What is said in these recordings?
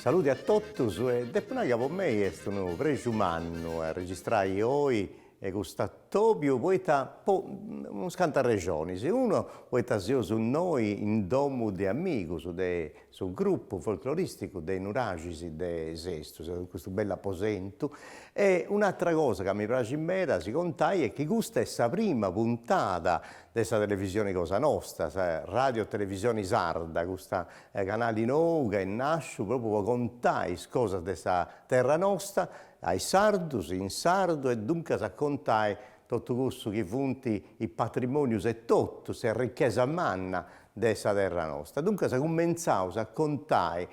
Salude a totus e depu nai ca po mei est unu prexu mannu a registrai oi custu atobiu poita po unus cantas rexonis, uno poita seus innoi in domu de amigus de su grupu folkloristicu de Nuraxi de Sestu, seus in custu bellu aposentu e un'atera cosa ca mi praxit meda a si contai est chi custa est sa prima puntada de sa televisioni cosa nosta, sa Radio Televisioni Sarda, custu canali nou ca est nasciu propriu po contai is cosas de sa terra nosta a is sardus, in sardu e duncas a contai totu cussu chi funt is patrimonius e totu s'arrichesa manna de sa terra nosta. Duncas cumentzaus a contai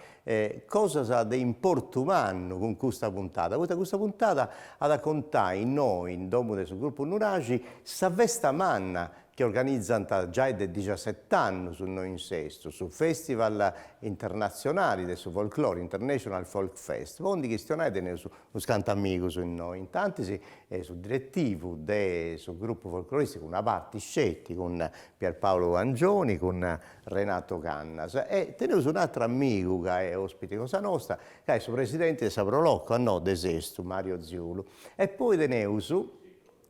cosas de importu mannu cun custa puntada, poita custa puntada at a contai innoi in domu de su Grupu Nuraxi sa festa manna chi organizant giai de dixaseti annus innoi in Sestu, su Festival internatzionali de su folklore, International Folk Fest, po ndi chistionai teneus unus cantu amigus innoi, in tantis su diretivu de su Grupu Folkloristicu, una parti sceti, cun Pier Paolo Angioni, cun Renato Cannas. E teneus un'atru amigu ca est ospite cosa nosta, ca est su presidenti 'e sa Pro Loco, innoi de Sestu, Mario Ziulu. E poi teneus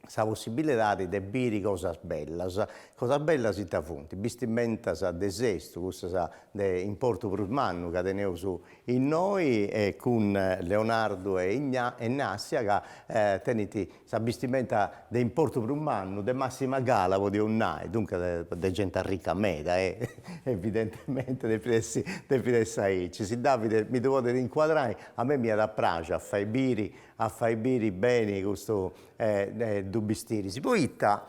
sa possibilidadi de biri cosas bellas, cosas bellas ita funt, bistimentas de Sestu, cussas de importu prus mannu ca teneus innoi e cun Leonardo e Ignazia ca tenint sa bistimenta de importu prus mannu, de massima gala podiaus nai, duncas de genti arrica meda e evidentemente depit essi depit essi aici. Si Davide mi ddu podet incuadrai, a mei m'iat a praxi a fai biri a fai biri beni custus duus bistiris. Poita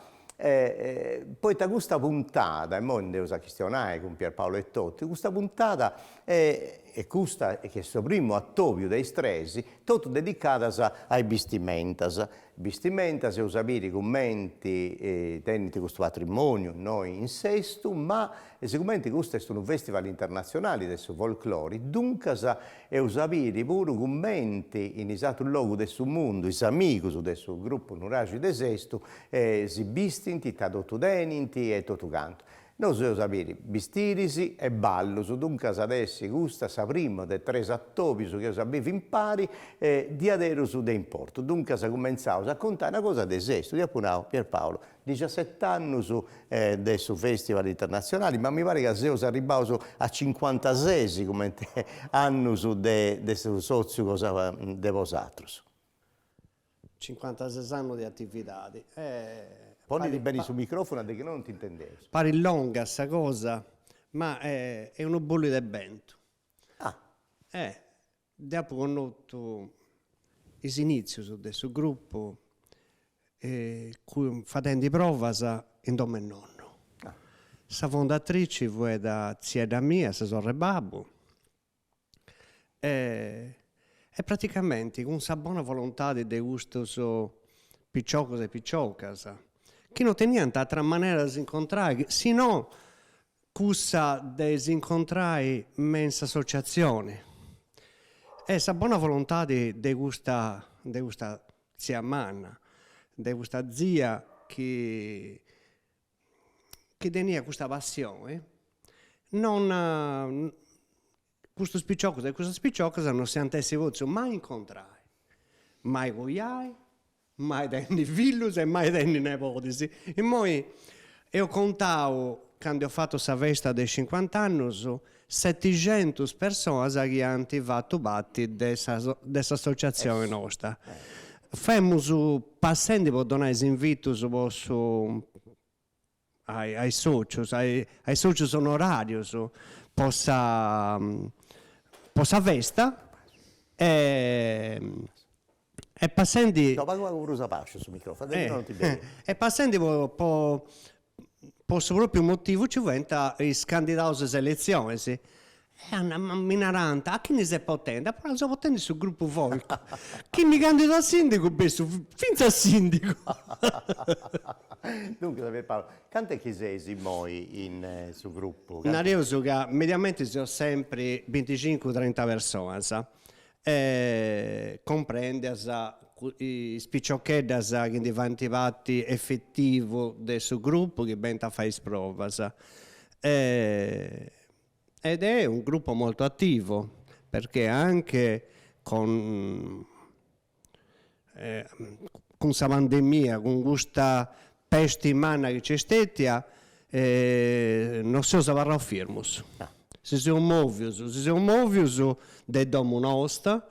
poita custa puntada, immoi nd'eus a chistionai cun Pierpaolo etotu, custa puntada est custa chi est su primu atobiu de is tres, totu dedicadas a is bistimentas, bistimentas eus a biri cumenti tenint custu patrimoniu innoi in Sestu, ma sigumenti custu est unu festival internatzionali de su folklori, duncas eus a biri puru cumenti in is atrus logus de su mundu is amigus de su grupu Nuraxi de Sestu si bistint ita totu tenint e totu cantu. Nosus eus a biri bistiris e ballus, duncas at essi custa sa prima de tres atobius chi eus a bivi impari e diaderus de importu. Duncas cumentzaus a contai una cosa de Sestu, dd'apu nau, Pierpaolo, dixaset'annus de su Festival Internazionali, ma mi parit ca seus arribbaus a cincuantasés comente annus de su sotziu cosa de bosatrus. Cincuantases annos de atividade. Ponidì beni su microfunu poita chi no non t'intendeus. Parit longa sa cosa ma est unu bolidu de bentu e deu apu connotu is initzius de su gruppu fadendi provas in domu 'e nonnu. Sa fondatrici fuet tziedda mia, sa sorre 'e babbu, e praticamenti cun sa bona volontade de custos piciocos e piciocas chi non teniant atera manera de si incontrai si no cussa de si incontrai me in s'associazione e sa bona volontade de custa de custa tzia manna, de custa tzia chi chi teniat custa passione non custos piciocos e custas piciocas non si ant essi potzios mai incontrai, mai coiai, mai tenni fillus e mai tenni nebodis. Immoi eus contau candu eus fatu sa festa de cincuant'annus Seticentus personas chi ant fatu parti de sa de s'associatzione nosta. Femus passendi po donai is invitus po su a a is socius a a is socius onorarius po sa po sa festa e e passendi e passendi po po su propriu motivu ci fuent is candidaus de is eletzionis e mi narant a chini ses potendi, apu nau seu potendi su grupu folk chi mi candidu a sindigu bessu finzas sindigu Duncas Pier Paolo cantu est chi seis immoi in su grupu? Nareus ca mediamenti seus sempri binticincu trenta personas comprendias is piciocheddas chi ndi faint parti efetivu de su grupu chi benint a fai is provas. Ed è un gruppo molto attivo perché anche con cun sa pandemia cun custa pesti manna chi c'est stetia non seus abarraus firmus si seus movius si seus movius de domu nosta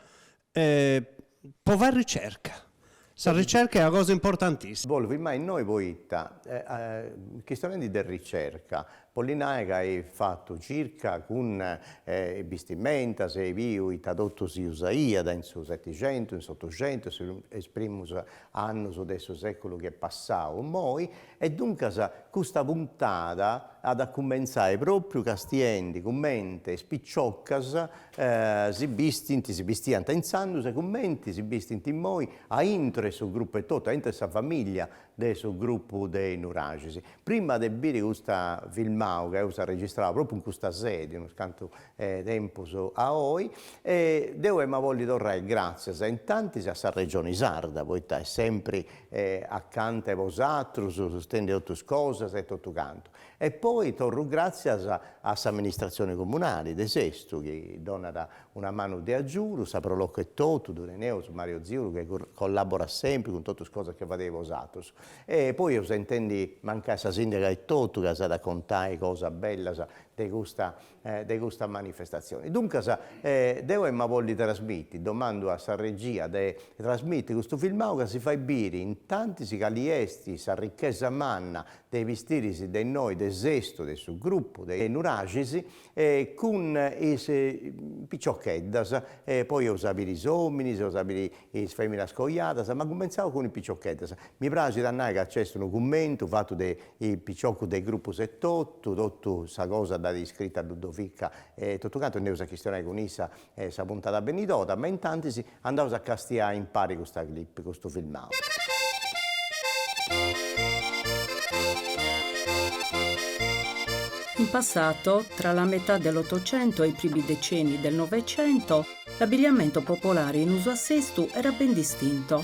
po fai ricerca, sa ricerca est una cosa importantissima. Bollu firmai innoi poita chistionendi de ricerca Bolit nai ca eis fatu circa cun is bistimentas e biu ita totu si usaiat in su setixentu, in s'otuxentu e is primus annus de su seculu chi est passau immoi e duncas custa puntada at a cumentzai propriu castiendi cumenti is piciocas si bistint, si bistiant intzandus e cumenti si bistint immoi aintru 'e su gruppu etotu, aintru 'e sa familia de su grupu de Nuraxis, prima de biri custa filmau ca eus arregistrau propriu in custa sedi unus cantu 'e tempus a oi, e deu ema bolli torrai gratzias intantis a sa Regioni Sarda poita est sempri acanta 'e bosatrus sustendi totu is cosas e totu cantu, e poi torru gratzias a s'amministratzioni comunali de Sestu chi donat Una manu de agiudu, sa pro locu etotu, ddu teneus Mario Ziulu chi collaborat sempri cun totu is cosas chi fadeis bosatrus. E poi eus a intendi mancai sa sindaga etotu ca s'at a contai cosas bellas de custa de custa manifestatzioni. Duncas deu ema bolli trasmiti, domandu a sa regia de trasmiti custu filmau ca si fait biri intantis cali est s'arrichesa manna de is bistiris de innoi de Sestu de su grupu de Nuraxis e cun is piciocheddas e poi eus a biri is ominis, eus a biri is feminas coiadas, ma cumentzaus cun is piciocheddas. Mi praxit a nai ca nc'est unu cummentu fatu de is piciocus de is grupus etotu, totu sa cosa dd'at iscrita Ludovica e totu cantu e nd'eus a chistionai cun issa E sa puntada benidora, ma intantis andaus a castiai impari custa clip, custu filmau. In passato, tra la metà dell'Ottocento e i primi decenni del Novecento, l'abbigliamento popolare in uso a Sestu era ben distinto.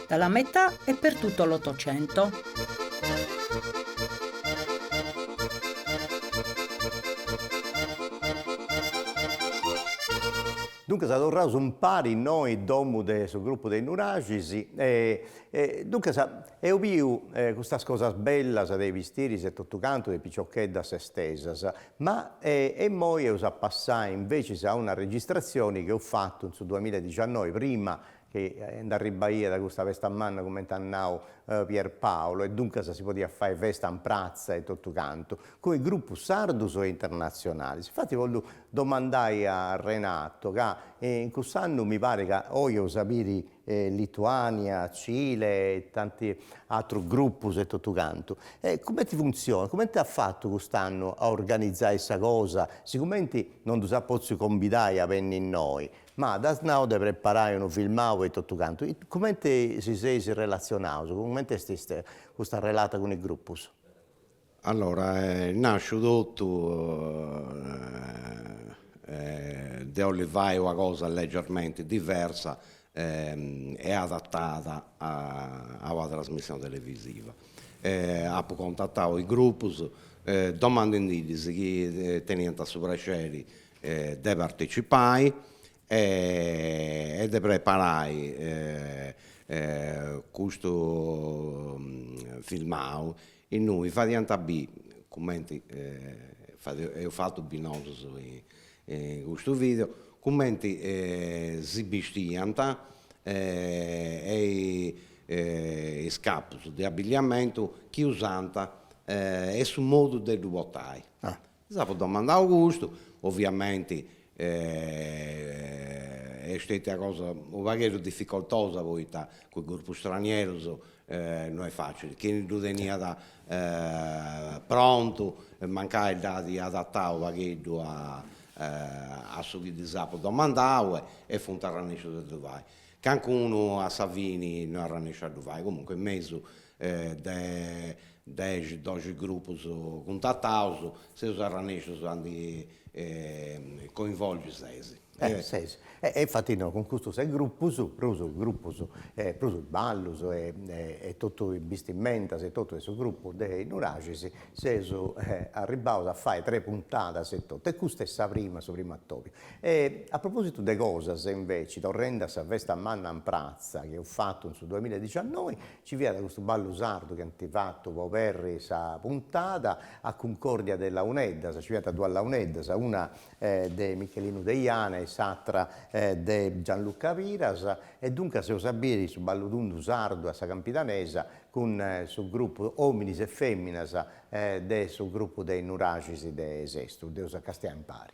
Dalla metà e per tutto l'Ottocento. Duncas torraus impari innoi in domu de su gruppu de Nuraxis e duncas eus biu custas cosas bellas de is bistiris e totu cantu de is piciocheddas sestesas, ma immoi eus a passai invecias a una registratzioni chi eus fatu in su duamilla e diciannoi prima chi nd'arribaiat custa pesta manna cumenti at nau Pierpaolo e duncas si podiat fai festa in pratza e totu cantu, cun is grupus sardus e internatzionalis. Infati bollu domandai a Renato ca in cuss'annu mi parit ca oi eus a biri Lituania, Cile e tanti atrus grupus e totu cantu. E cumenti funtzionat, cumenti at fatu cust'annu a organizai sa cosa, sigumenti non ddus at potziu cumbidai a benni innoi, Ma t'as nau de preparai unu filmau e totu cantu, cumenti si seis relatzionaus, cumenti est ista custa relata cun is grupus? Allora est nàsciu totu de bolia fai una cosa legermenti diversa e adatada a una trasmissione televisiva. Apu contatau is grupus domandendidis chi teniant su prexeri de partecipai e de preparai custu filmau innui fadiant bì cumenti eus fatu bì nosus in custu video cumenti si bistiant e is capus de abilliamentu chi usant e su modu de ddu portai Ddis apu domandau custu, oviamenti est stètia una cosa unu pagheddu dificoltosa poita cun is grupus stranierus no est facili, chini ddu teniat prontu mancai dd'at adatau unu pagheddu a su chi ddis apu domandau e funt arrennèscius a ddu fai, cancunu a sa fini no est arrennèsciu a ddu fai, comunque in mesu de dexi doxi grupus cuntataus seus arrennèscius a ndi coinvolgi ses. E ses. E e infati no, cun custos ses grupus, prus grupus e prus ballus e e totu is bistimentas e totu de su grupu de Nuraxis seus arribbaus a fai tres puntadas e totu e custa est sa prima, su primu atobiu. E a propositu de cosas inveci, torrendi a sa festa manna in pratza chi eus fatu in su duamilla e diciannoi, Ci fiat custu ballu sardu chi ant fatu po oberri sa puntada, a cuncòrdia de launeddas, nci fiant duas launeddas, una de Michelinu Deiana e s'atra de Gianluca Piras, e duncas seus a biri su ballu tundu sardu a sa campidanesa cun su grupu Ominis e Feminas de su grupu de Nuraxis de Sestu, dd'eus a castiai impari.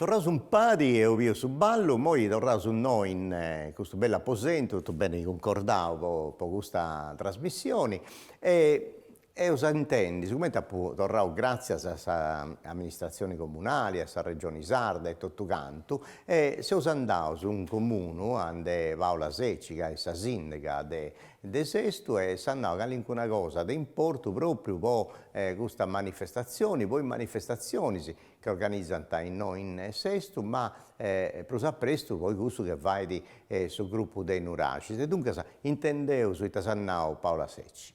Torraus impari eus biu su ballu, moi torraus innoi in custu bellu aposentu, totu beni cuncordau po custa trasmissioni e Eus a intendi sicomenti apu torrau gràtzias a sa amministratzioni comunali, a sa Regioni Sarda e totu cantu, e seus andaus in comunu ande Paola Secci ca est sa sìndiga de de Sestu e s'at nau calincuna cosa de importu pròpriu po custa manifestatzioni, po is manifestatzionis chi organizant innoi in Sestu, ma prus a prestu po cussu chi fait su grupu de is Nuraxis. E duncas intendeus ita s'at nau Paola Secci.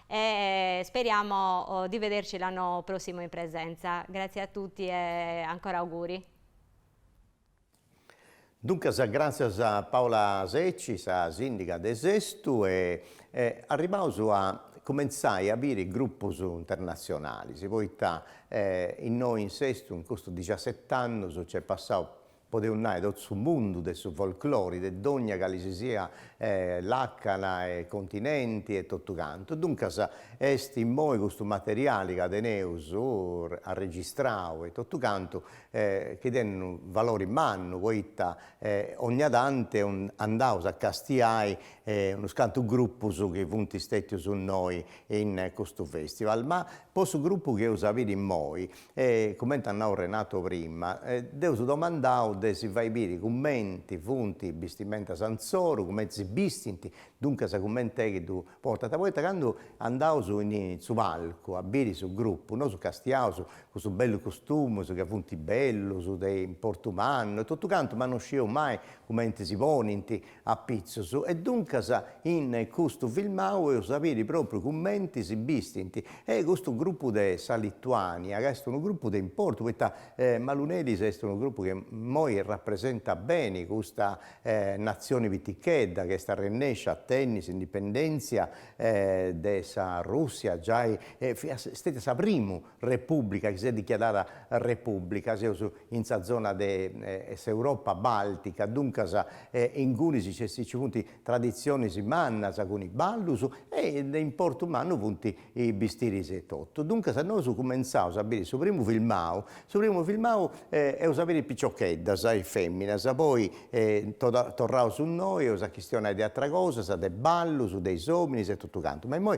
E speriamo di vederci l'anno prossimo in presenza. Grazie a tutti e ancora auguri. Duncas gràtzias a Paola Secci, sa sìndiga de Sestu, e arribaus a cumentzai a biri grupus internatzionalis, poita innoi in Sestu in custus dixiaset'annus nc'est passau podeus nai totu su mundu de su folklori de dogna cali si sia làcana e continenti e totu cantu, duncas est immoi custu materiali ca teneus arregistrau e totu cantu chi tenit unu valori mannu poita ogna tanti andaus a castiai unus cantu grupus chi funt stètius innoi in custu festival, ma po su grupu chi eus a biri immoi E cumenti eus nau Renato prima, dd'eus domandau de si fai biri cumenti funt is bistimentas insoru, cumenti si bistint, duncas cumenti est chi ddu portant, poita candu andaus in su palcu a biri su grupu, nosu castiaus cussus bellus costumus ca funt bellus, de importu mannu e totu cantu, ma no scieus mai cumenti si ponint, apitzus e duncas in custu filmau eus a biri propriu cumenti si bistint e custu grupu de sa Lituania ca est unu grupu de importu poita Maluneris est unu grupu chi immoi rapresentat beni custa natzioni pitichedda ca est arrennescia a tenni s'indipendenzia de sa Russia giai fiat stetia sa primu Repùblica, chi s'est dichiarada Repùblica, seus in sa zona de s'Europa bàltica, duncas ingunis nci funt traditzionis mannas cun is ballus e de importu mannu funt is bistiris etotu. Duncas nosu cumentzaus a biri su primu filmau, su primu filmau eus a biri piciocheddas e fèminas, poi torraus innoi eus a chistionai de ateras cosas, de ballus, de is ominis e totu cantu. Ma immoi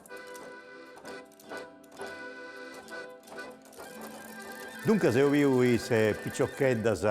Duncas eus biu is piciocheddas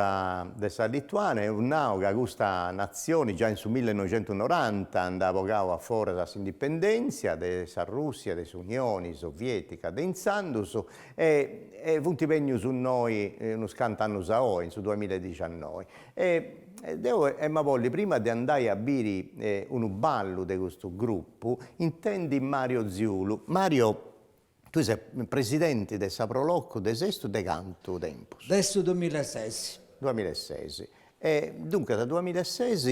de sa Lituània, eus nau ca custa natzioni giai in su millenoixentunoranta nd'at bogau a foras s'indipendèntzia de sa Rùssia de s'Unioni Soviètica de intzandus e funt bènnius innoi unus cantu annus a oi, in su duamilla e dixannoi. E deo emu a bolli prima de andai a biri unu ballu de custu grupu, intendi Mario Ziulu. Mario, tui ses presidenti de sa Prolocu de Sestu de cantu tempus? De su duamilla e ses. Duamilla e ses. E duncas duamilla e ses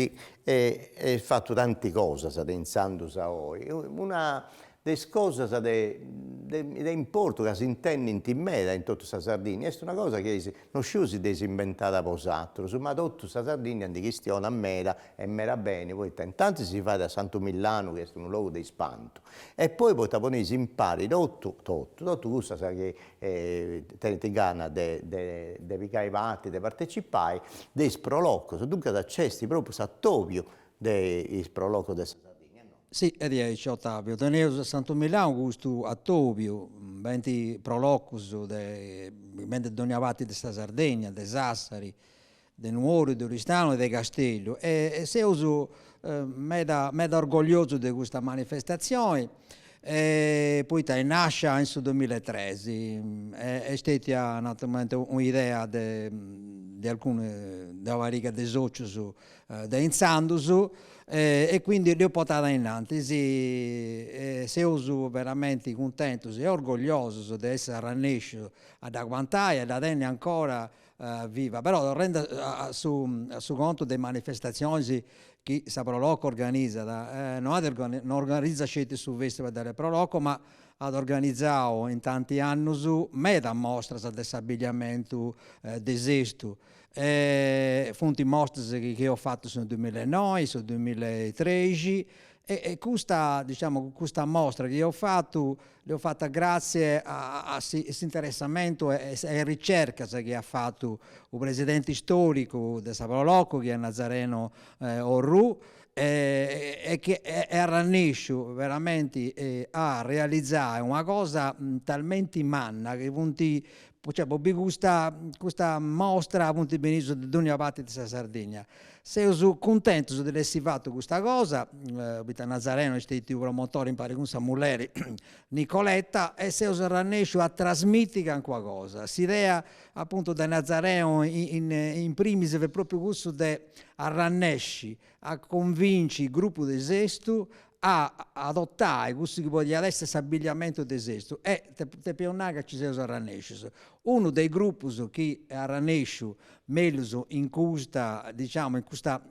eis fatu tanti cosas de intzandus a oi. Una de is cosas de de importu ca si intendint meda in totu sa Sardigna, est una cosa chi eis, no sciu si dd'eis imbentada bosatrus, ma totu sa Sardigna ndi chistionat meda e meda beni, poita intantis si fait a Santu Millanu chi est unu logu de ispantu e poi poita poneis impari totu totu totu cussas chi tenint gana de de de pigai parti, de partecipai de is prolocos, duncas nc'est propriu s'atobiu de is prolocos de sa Sardigna Si, est diaici Otaviu, teneus a Santu Millanu custu Atobiu, benint prolocus de benint de dònnia parti de sa Sardegna, de Sassari, de Nuoro, de Oristano e de Casteddu e seus meda meda orgogliosus de custa manifestatzioni poita est nàscia in su duamilla e tres est stètia naturalmente un'idea de de alcunu de una pariga de sòcius de intzandus e quindi dd'eus portada ainnantis e seus veramenti cuntentus e orgogliosus de essi arrannèscius a dd'aguantai e a dda tenni ancora viva. Però torrendi a su a su contu de is manifestatzionis chi sa Pro Loco organizat, no at no organizat sceti su festival de Pro Loco ma at organizau in tanti annus medas mostras de s'abbigliamentu de Sestu Funt is mostras chi eus fatu su duimilla e noi, su duimilla e trexi e custa, diciamo, custa mostra chi eus fatu dd'eus fata gratzie a s'interessamentu e a is ricercas chi at fatu u' presidenti storicu de sa Pro Loco chi est Nazareno Orrù e chi est arrannèsciu veramenti a realizai una cosa talmenti manna chi funt Cioè po bi custa custa mostra funt benius de dònnia parti de sa Sardigna. Seus cuntentus de dd'essi fata custa cosa, poita Nazareno est stètiu promotori impari cun sa mulleri Nicoletta e seus arrannèsciu a trasmiti calincuna cosa. S'idea apuntu de Nazareno in primis fut propriu cussu de arrannèsci a convinci is gruppus de sestu a adottai cussu chi podiat esser s'abbigliamentu de sestu e depiaus nai ca ci seus arrannescius. Unu de is gruppus chi est arrannesciu mellus in custa diciamo in custa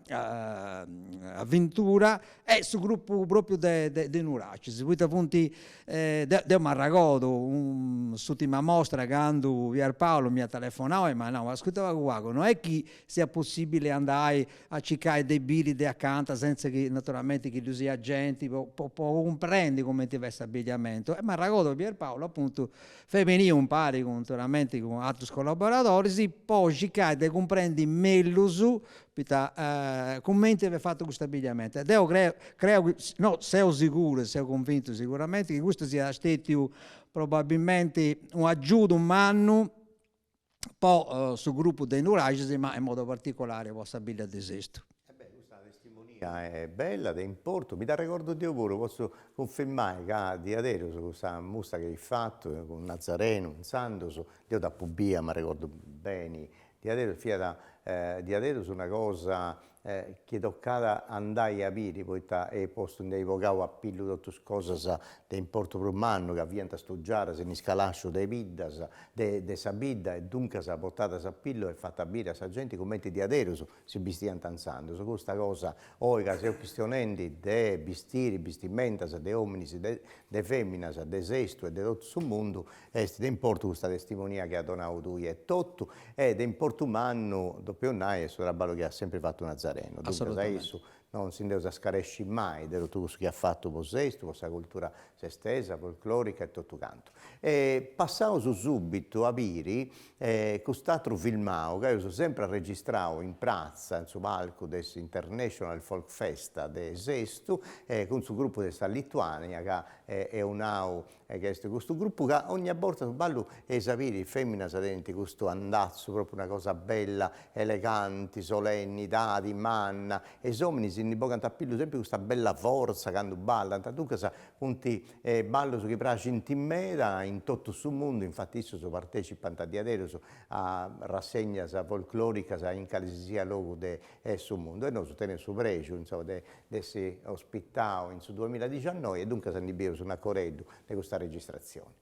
avventura est su gruppu propriu de Nuraxis poita funt deu m'arragodu s'urtima mostra candu Pier Paolo m'at telefonau e m'at nau ascurta pagu pagu no est chi siat possibili andai a circai de biri de acanta sentza chi naturalmenti chi ddu siat genti po po po cumprendi cumenti fiat s'abbigliamentu e m'arragodu Pierpaolo apuntu fiat beniu impari cun naturalmenti cun atrus collaboradoris po circai de cumprendi mellus poita cumenti fiat fatu custu abbigliamentu e deu creu creu chi no seu siguru e seu cunvintu siguramenti chi custu siat stetiu probabilmenti u' agiudu mannu po su grupu de Nuraxis ma in modu particulari po sa bidda de Sestu. E beh, custa testimonia est bella, de importu, mi dd'arregordu deu puru, potzu cunfirmai ca diaderus custa mostra chi eis fatu cun Nazarenu, intzandus, deu dd'apu bia, m'arregordu beni, diaderus fiat diaderus una cosa e chi toccat a andai a biri poita eis postu nd'eis bogau a pillu totus cosas de importu prus mannu ca fiant stugiadas in is calascius de biddas de de sa bidda e duncas portadas a pillu e fatas biri a sa genti cumenti diaderus si bistiant intzandus custa cosa oi ca seus chistionendi de bistiri bistimentas de ominis de de feminas de sestu e de totu su mundu Est de importu custa testimonia chi as donadu tui etotu e de importu mannu, depeus nai, est su traballu chi at sempri fatu Nazareno. Duncas a issu non si nd'eus a scaresci mai de totu cussu chi at fatu po Sestu, po sa cultura sestesa, folclòrica e totu cantu. E passaus subitu a biri cust'atru filmau chi aus sempri arregistrau in pratza, in su palcu de s'International Folk Fest de Sestu, cun su grupu de sa Lituània ca eus nau e ca est custu gruppu ca ogna borta su ballu eis a biri is feminas tenint custu andazzu propriu una cosa bella eleganti solennidadi manna e is ominis ndi bogant a pillu sempri custa bella forza candu ballant duncas funt ballus chi praxint meda in totu su mundu infatti issus partecipant diaderus a rassegnas folkloricas in calisisiat logu de su mundu e nosu teneus su prexu insoma de dd'essi ospitau in su duamilla e diciannoi e duncas ndi bius un arrogheddu de custa registratzioni.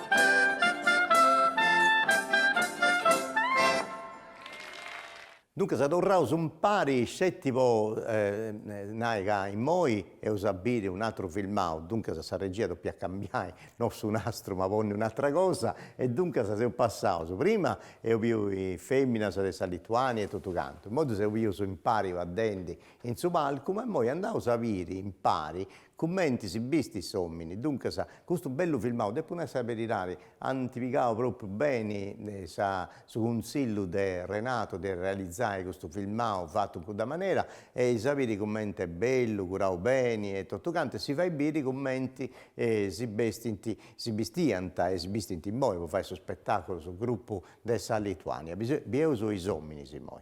Duncas torraus umpari sceti po nai ca immoi eus a biri un'atru filmau, duncas sa regia depiat cambiai, no su nastru ma ponni un'atra cosa, e duncas seus passaus, prima eus biu is feminas de sa Lituania e totu cantu, immoi ddus eus bius impari fadendi in su palcu, ma immoi andaus a biri impari Cumenti si bistit s'omini. Duncas custu bellu filmau, depu nai sa beridadi, ant pigau propriu beni sa su cunzillu de Renato de realizai custu filmau fatu in cudda manera e is a biri cumenti est bellu, curau beni e totu cantu e si fait biri cumenti si bestint, si bistiant e si bistint immoi po fai su spetaculu su gruppu de sa Lituania. Bieus is ominis immoi.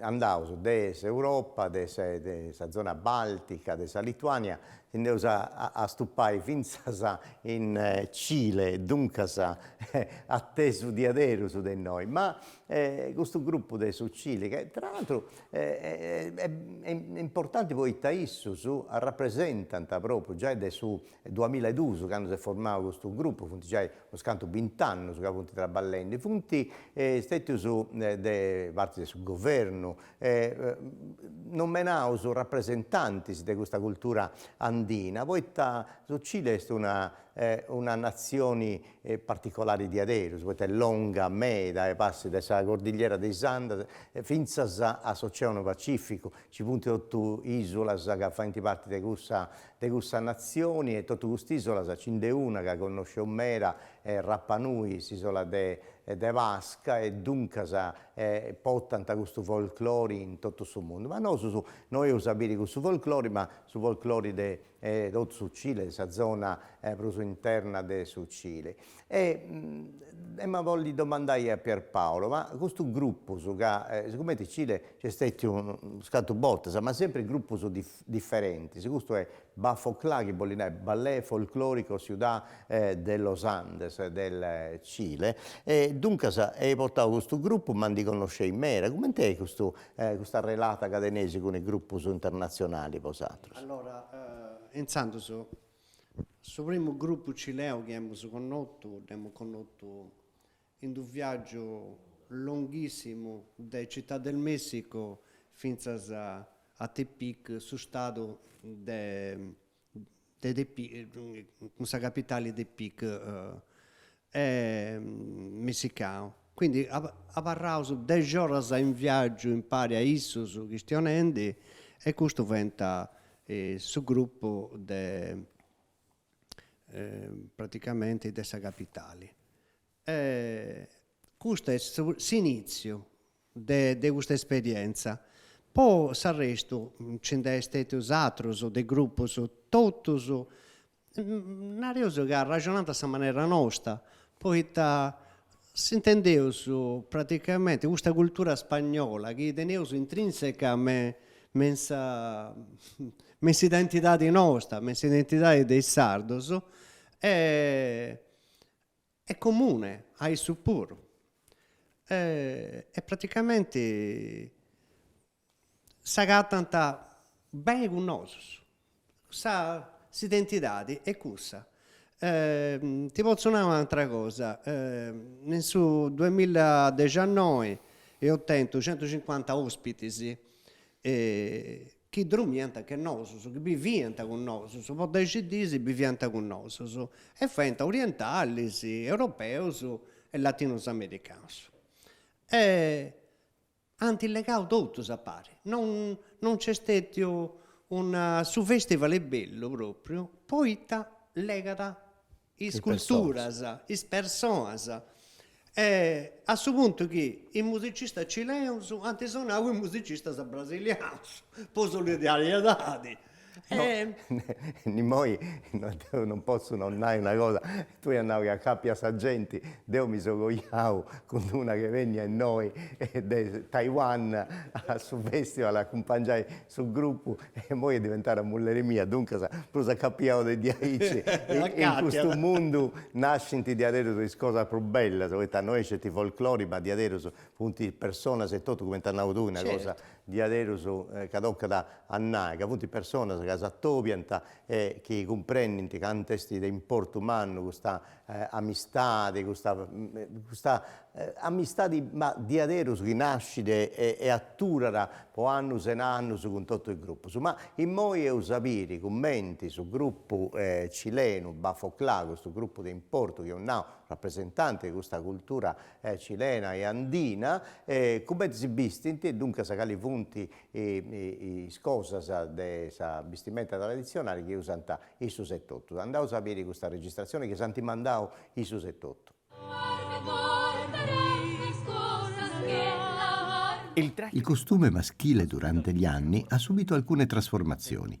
andaus de s'Europa, de sa zona baltica, de sa Lituania, si nd'eus a astupai fintzas in Cile, duncas atesu diaderus de innoi, ma custu grupu de su Cile, ca tra l'atru est importanti poita issus arrapresentant propriu giai de su duamilla e duus candu s'est formau custu grupu, funt giai Unus cantu bint'annus ca funt traballendi funt stètius de parti de su governu nomenaus rapresentantis de custa cultura andina poita su Cile est una una natzioni particolari diaderus poita est longa meda e passat de sa cordillera de is Andes fintzas a s'oceanu pacificu nci funt totu isulas ca faint parti de cussa De cussa natzioni e totu cust'ìsolas ci nd'est una ca connosceus meda Rapa Nui, s'ìsola de de Pasca e duncas portant custu folklori in totu su mundu. Ma nosus no eus a biri cussu folklori ma su folklori de totu su Cile, de sa zona prus interna de su Cile. E ema bolli domandai a Pierpaolo, ma custus grupus ca sigumenti in Cile nc'est stètiu scantu bortas ma sempri grupus diferentis, custu est Bafoclá chi bolit nai Ballet Folklórico Ciudad de los Andes del Cile e duncas eis portau custu grupu ma ndi connosceis meda, cumenti est custu custa relata ca teneis cun is grupus internatzionali bosatrus? Allora intzandus su primu grupu cileu chi emus connotu dd'emus connotu in d'u viàgiu longhìssimu de Città del Messico fintzas a Tepic, su stadu de de Tepic, cun sa capitali Tepic messicanu. Quindi abarraus dexi oras in viàgiu impari a issus chistionendi e custus fiant su grupu de praticamenti de sa capitali. Custu est su s'initziu de de custa esperientza, po s'arrestu nci nd'est stètius atrus de grupus totus nareus chi arraxonant a sa manera nosta, poita S'intendeus praticamenti custa cultura spagnola chi teneus intrinseca me me in sa me in s'identidadi nosta, me in s'identidadi de is sardos est comune a issus puru e praticamenti s'agatant bene cun nosus, sa s'identidadi e cussa. Ti potzu nai un'atra cosa, in su duemilla dexannoi eus tentu centucincuanta ospitis chi dromiant che nosus, chi biviant cun nosus, po dexi dis biviant cun nosus e fiant orientalis, europeus e latinus americanus. Ant legau totus a pari, non non nci est stètiu una, su fèstival est bellu pròpriu poita legat is culturas, is personas, a su puntu chi is musicistas cilenus ant sonau is musicistas brasilianus po solidariedadi immoi deo non potzu non nai una cosa, tui as nau chi acapias sa genti, deu mi so coiau cun una chi benniat innoi de Taiwan a su festival a acumpangiai su grupu e immoi est diventada mulleri mia, duncas prus acapiau de diaici, in custu mundu nascint diaderus is cosas prus bellas, poita no est sceti folklore ma diaderus funt personas etotu cumenti as nau tui una cosa diaderus ca tocat a nai ca funt personas ca s'atobiant e chi cumprendint cantu est de importu mannu custa amistadi, custa custa amistadi ma diaderus chi nascit e aturat po annus e annus cun totu is grupus. Ma immoi eus a biri cumenti su grupu cilenu Bafoclà, custu grupu de importu chi eus nau, rapresentanti de custa cultura cilena e andina, cumenti si bistint e duncas cali funt is cosas de sa bistimenta traditzionali chi usant issus etotu. Andaus a biri custa registratzioni chi s'ant mandau issus etotu. Il costume maschile durante gli anni ha subito alcune trasformazioni.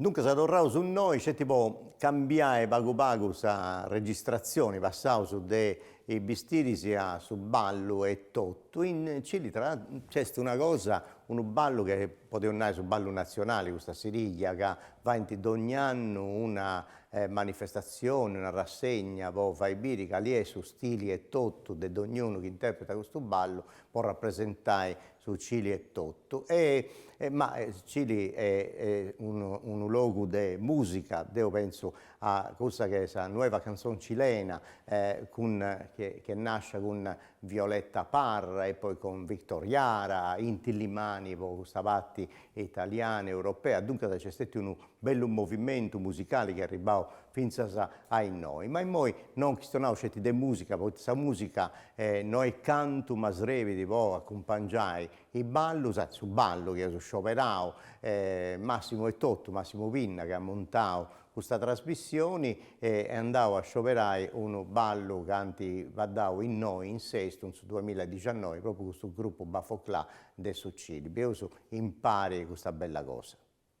Duncas torraus innoi sceti po cambiai pagu pagu sa registratzioni, passaus de is bistiris a su ballu etotu, in Cili nc'est una cosa, unu ballu chi podeus nai su ballu natzionali custa Sirìllia ca faint dogn'annu una manifestatzioni, una rassegna po fai biri cali est su stili etotu de dogn'unu chi interpretat custu ballu po rapresentai su Cili etotu ma Cili est unu logu de musica, deu pensu a cussa chi est sa nueva canción cilena chi est nascia cun Violeta Parra e poi cun Victor Jara, Inti Illimani po custa parti italiana, europea, duncas nc'est stetiu unu bellu movimentu musicali chi est arribbau fintzas a innoi, ma immoi no chistionaus sceti de musica, poita sa musica no est cantu, ma srebit po acumpangiai is ballus, e su ballu chi eus scioberau, Massimo etotu, Massimo Pinna, chi at muntau custa trasmissioni, est andau a scioberai unu ballu chi ant baddau innoi in Sestu in su duamilla e diciannoi, propriu custu grupu Bafoclà de su Cili, bieus impari custa bella cosa.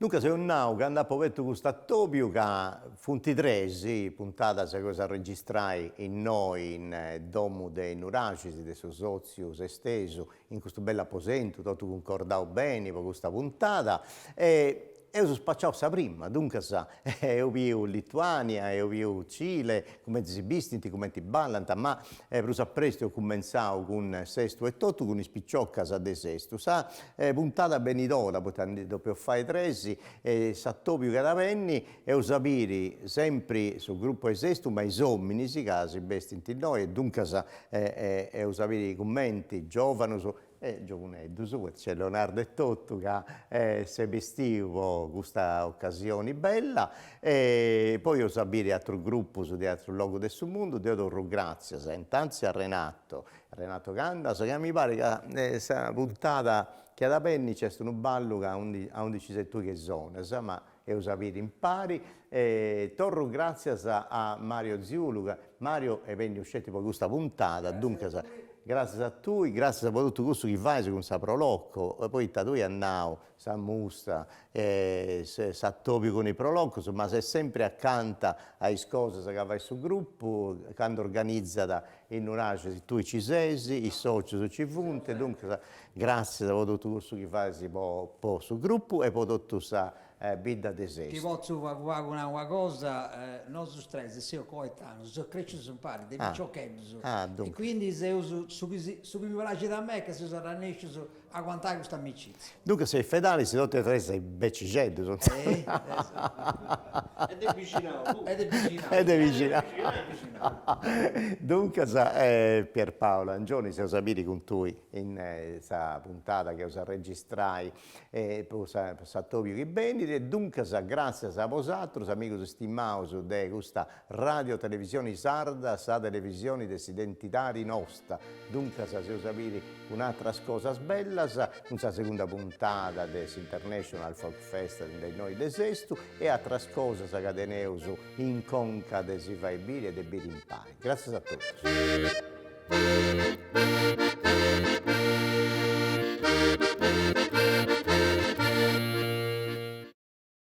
Duncas eus nau candu apu obertu custu atobiu ca funt tres is puntadas chi eus a registrai innoi in domu de Nuraxis, de su sotziu sestesu in custu bellu aposentu, totu cuncordau beni po custa puntada e Eus spaciau sa prima, duncas eus biu Lituania, eus biu Cile, cumenti si bistint, cumenti ballant, ma prus a prestu eus cumentzau cun Sestu etotu cun is piciocas de Sestu. Sa puntada benidora, poita ndi depeus fai tres, s'atobiu chi at a benni, eus a biri sempri su grupu 'e Sestu, ma is ominis ca si bestint innoi e duncas eus a biri cumenti giovanus E giovuneddus, poita nc'est Leonardo etotu ca s'est bestiu po custa ocasioni bella e poi eus a biri atrus grupus de atrus logus de su mundu, deu torru gràtzias intantis a Renato, Renato Candas, ca mi parit ca sa puntada chi at a benni nc'est unu ballu ca aundi aundi nci ses tui chi sonas ma Eus a biri impari e torru gràtzias a Mario Ziulu, ca Mario est benniu sceti po custa puntada, duncas, gràtzias a tui, gràtzias po totu cussu chi fais cun sa Pro Loco, poita tui as nau, sa musta e s'atòbiu cun is Pro Locos, ma ses sempri acanta a is cosas ca fait su grupu, candu organizat In onniacasu si tui ci ses, is sotzius nci funt, duncas gratzias po totu cussu chi fais po po su grupu e po totu sa bidda de Sestu. Ti potzu pagu pagu nai una cosa, nosus tres seus coetaneus, seus crecius impari de piciocheddus e quindi seus su chi si su chi mi praxit a mei est ca seus arrannèscius a aguantai custa amicizia. Duncas seis fedalis totu e tres becixeddus. E de bixinau puru. E de bixinau. E de bixinau. Duncas Pierpaolo Angioni seus a biri cun tui in sa puntada chi eus a registrai po sa po s'atobiu chi benit e duncas gràtzias a bosaterus amigus istimaus de custa Radio Televisioni Sarda sa televisioni de s'identidadi nosta, duncas seus a biri cun ateras cosas bellas cun sa segunda puntada de s'International Folk Festival de innoi de Sestu e ateras cosas ca teneus in conca de si fai biri e de biri impari. Gràtzias a totus.